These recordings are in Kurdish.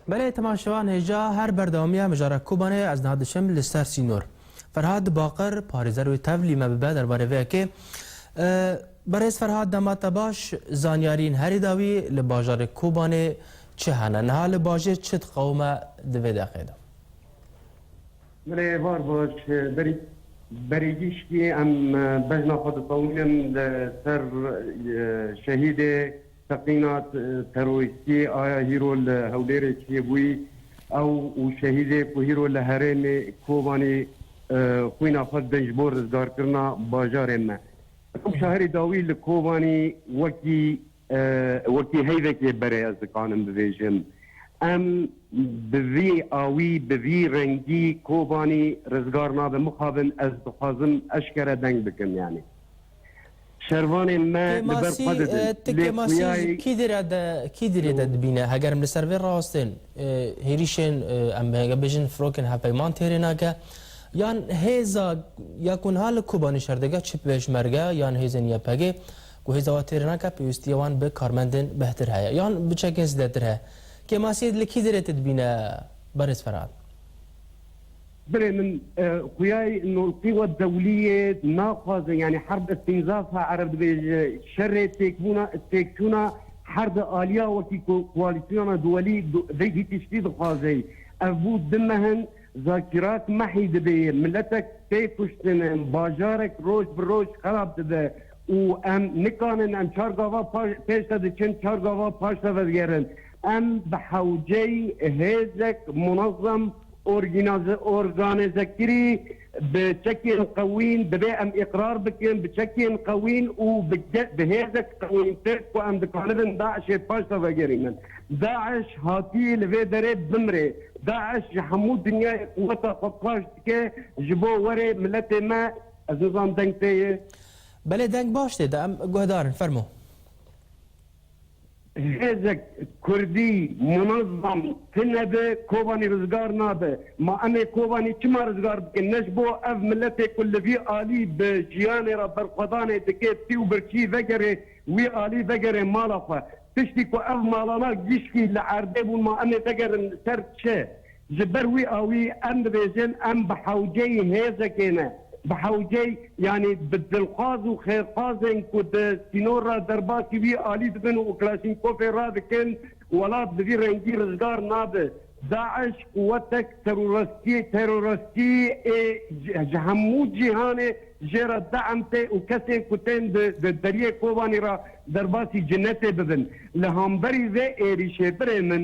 Belê Timan Şivan hêja her berdewamiya mijara Kobanê ez niha diçim li ser sînor. Ferhad Baqir parêzer wê tevlî me bibe derbarê vê yekê. Berêz Ferhad dema te baş, zanyarîn herî dawî li bajarê Kobanê çi hene? Niha li bajêr çi diqewime di vê deqê de? Belê var baş berî berî giştî em bejna xwe diqewînim li ser şehîdê Teqîna terorîstiyê aya hîro li Hewlêrê çiyê bûyî, ew û şehîdê ku hîro li herêmê Kobanî xwîna xwe didin ji bo rizgarkirina bajarê me. Rewşa herî dawî li Kobanî wekî wekî heyvek yê berê ez dikanim bibêjim. Em bi vî awî, bi vî rengî Kobanî rizgar nabin. Mixabin ez dixwazim eşkere deng bikim yanî. Şervanên me li ber xwe didin. Ti kemasî ji kî dêrê de dibîne? Heger em li ser vê rastên hêrîşên em hêge bêjin firokên hevpeyman têrê nake yan hêza ya ku niha li Kobanî şer dike çi pêşmerge yan hêzên YPGê ku hêza we têrê nake pêwîstiyê wan bi karmendên behtir heye yan bi çekên zêdetir heye. Kemasî li kî dêrê te dibîne Berêz Ferhat? Birê min xuyay nolqî we dewlî yê naxwazin yanî herb îstînzaf e ereb dibêje şerê têkbûna têkçûna herbi alîya wekî ku koalîsyona duwelî vêgî tiştî dixwazey ev bû di mehin zakîrat mehî dibê miletek tê kuştin bajarek roj bi roj xerab dibe û em nikanin em çar gava pêş de diçin çar gava paş de vedigerin. Em bi hewceyî hêzek munezem orgînaze organezekirî bi çekên qewîn dibê em îqrar bikin bi çekên qewîn û bi bi hêzek qewîntir ku em dikanibin DAIŞ'ê paş de vegerînin. DAIŞ hatiyê li vê derê bimrê. DAIŞ ji hemû dinyayê quweta xwe paş dike ji bo werê miletê me. Ez nizanim deng tê ye? Belê deng baş tê de em guhdarin. Fermo. Hêzek kurdî munezam tunebe Kobanî rizgar nabe. Ma em ê Kobanî çima rizgar bikin? Ne ji bo ev miletê ku li vî alî bi jiyanê re berxwedanê dike pî û birçî vegerê wî alî vegerê mala xwe. Tiştî ku ev malana gişkî li erdê bûn ma em ê vegerin li ser çi? Ji ber wî awî em dibêjin em bi hewceyî hêzekê ne, bi hewceyî yanî bi dilxwaz û xêrxwazên ku di sînor re derbasî wî alî dibin û Klaşinkofê radikin, welat bi vî rengî rijgar nabe. DAIŞ quwetek terorestî terorestî ê ji hemû cîhanê jê re deem tê û kesên ku tên di di Deriyê Kobanî re derbasî cinetê bibin. Li hemberî vê êrîşê birê min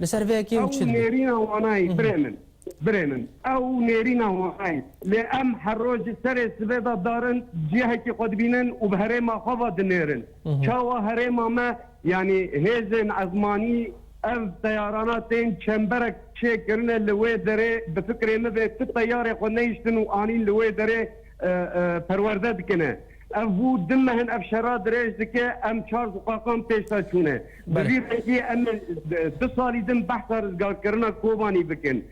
Li ser vê yekê em çi dibin? Ew nêrîna wanayî birê min. Birê min ew nêrîna wanayî. Lê em her roj ji serê sibê de dar in, cihekî xwe dibînin û bi herêma xwe ve dinêrin. Çawa herêma me yanî hêzên ezmanî ev teyarana tên çemberek çê kirine li wê derê bi fikrê min ve ti teyarê xwe nehiştin û anîn li wê derê perwerde dikine. Ev bû du mehin ev şera dirêj dike, em çar ziqaqan pêşda çûne. Bi vî rengî em ê du salî din behsa rizgarkirina Kobanî bikin.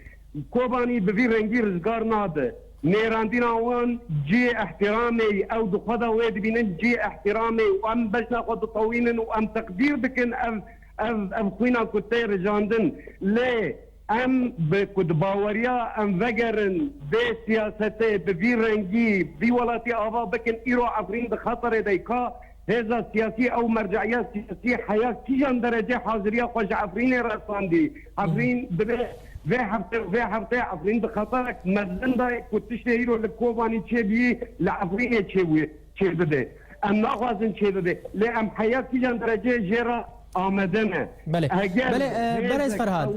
Kobanî bi vî rengî rizgar nabe. Mêrandîna wan cihê îhtîramê ye. Ew di xwe de wê dibînin cihê îhtîramê û em beşa xwe ditewînin û em teqdîr dikin ev ev ev xwîna ku tê rijandin. Lê. Em bi ku di baweriya em vegerin vê siyasetê bi vî rengî vî welatî ava bikin, îro Efrîn di xeterê de ye. Ka hêza siyasî ew merceîya siyasî heya kîjan derecê haziriya xwe ji Efrînê resandî? Efrîn divê vê hefte û vê hefteyê Efrîn di xeterek mezin de ye ku tiştê îro li Kobanî çêbûyî li Efrînê çêbûye. Çêbibe. Em naxwazin çêbibe. Lê em heya kîjan dereceyê jê re amede ne. Belê. Belê berez Ferhad.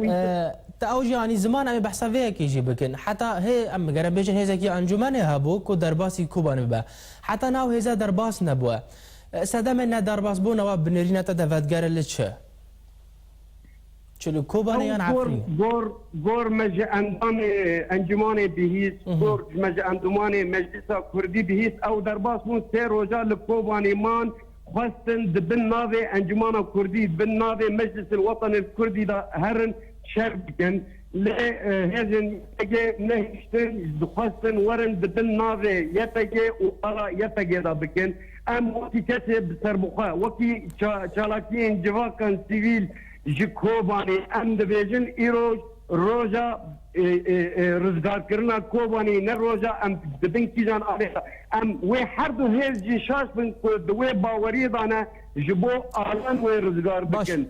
Te ew jî anî ziman em ê behsa vê yekê jî bikin. Heta hê em bigerin bêjin hêzekî encûmenê hebû ku derbasî Kobanê bibe. Heta na ew hêze derbas nebûye. Sedemê nederbasbûna we bi nêrîna te de vedgere li çi? Çi li Kobanê yan Efrîn? Gor gor me ji endamê encûmanê bihîst, gor ji me ji endûmanê Meclisa Kurdî bihîst. Ew derbas bûn sê roja li Kobanê man, xwestin di bin navê Encûmana Kurdî, bin navê Meclisil Wetenil Kurdî de herin şer bikin. Lê hêzên YPG nehiştin, dixwestin werin di bin navê YPG û bala YPG de bikin. Em wekî kesê bi serbixwe, wekî çalakiyên civakan sivîl ji Kobanê em dibêjin îroj roja rizgarkirina Kobanê ne roja em di bin kîjan arêta. Em wê her du hêz jî şaş bin ku di wê baweriyê de ne ji bo alan wê rizgar bikin.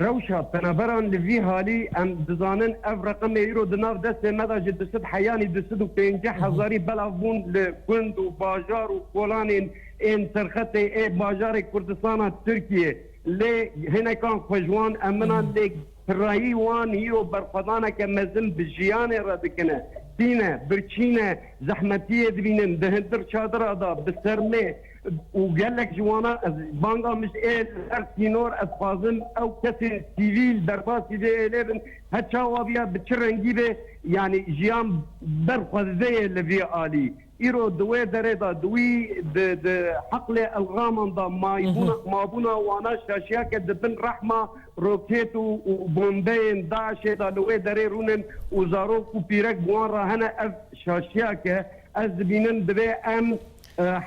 Rewşa penaberan li vî halî em dizanin ev reqemê îro di nav destê me de ji du sed heyanî du sed û pênceh hezarî belav bûn li gund û bajar û kolanên ên serxetê ê bajarê Kurdistana Tirkiyê lê hinekan xwe ji wan eminan lê pirayî wan îro berxwedaneke mezin bi jiyanê re dikine tîne birçîne zehmetiyê dibînin di hindir çadira de bi sermê û gelek ji wana ez banga mij ê li her sînor ez xwazim ew kesên sivîl derbasî vê êlê bin her çawa biya bi çi rengî bê yanî jiyan ber xwe dide yê li vî alî îro di wê derê de di wî di di heqlê elraman de maybûna mabûna wana şaşiya ke di bin rehma rokêt û û bombeyên DAIŞê de li wê derê rûnin û zarok û pîrek bi wan re hene ev şaşiya ke ez dibînim divê em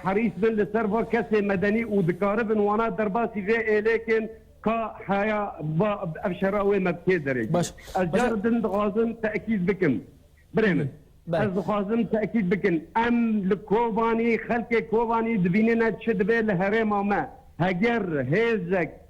Herîs bin li ser va kesên medenî û dikaribin wana derbasî vê êlêkên ka heya va ev şera wê me bi kê derêge. Ez cara din dixwazim tekîd bikim. Birê min, ez dixwazim tekîd bikim em li Kobanî, xelkê Kobanî dibînîne çi dibe li herêma me. Heger hêzek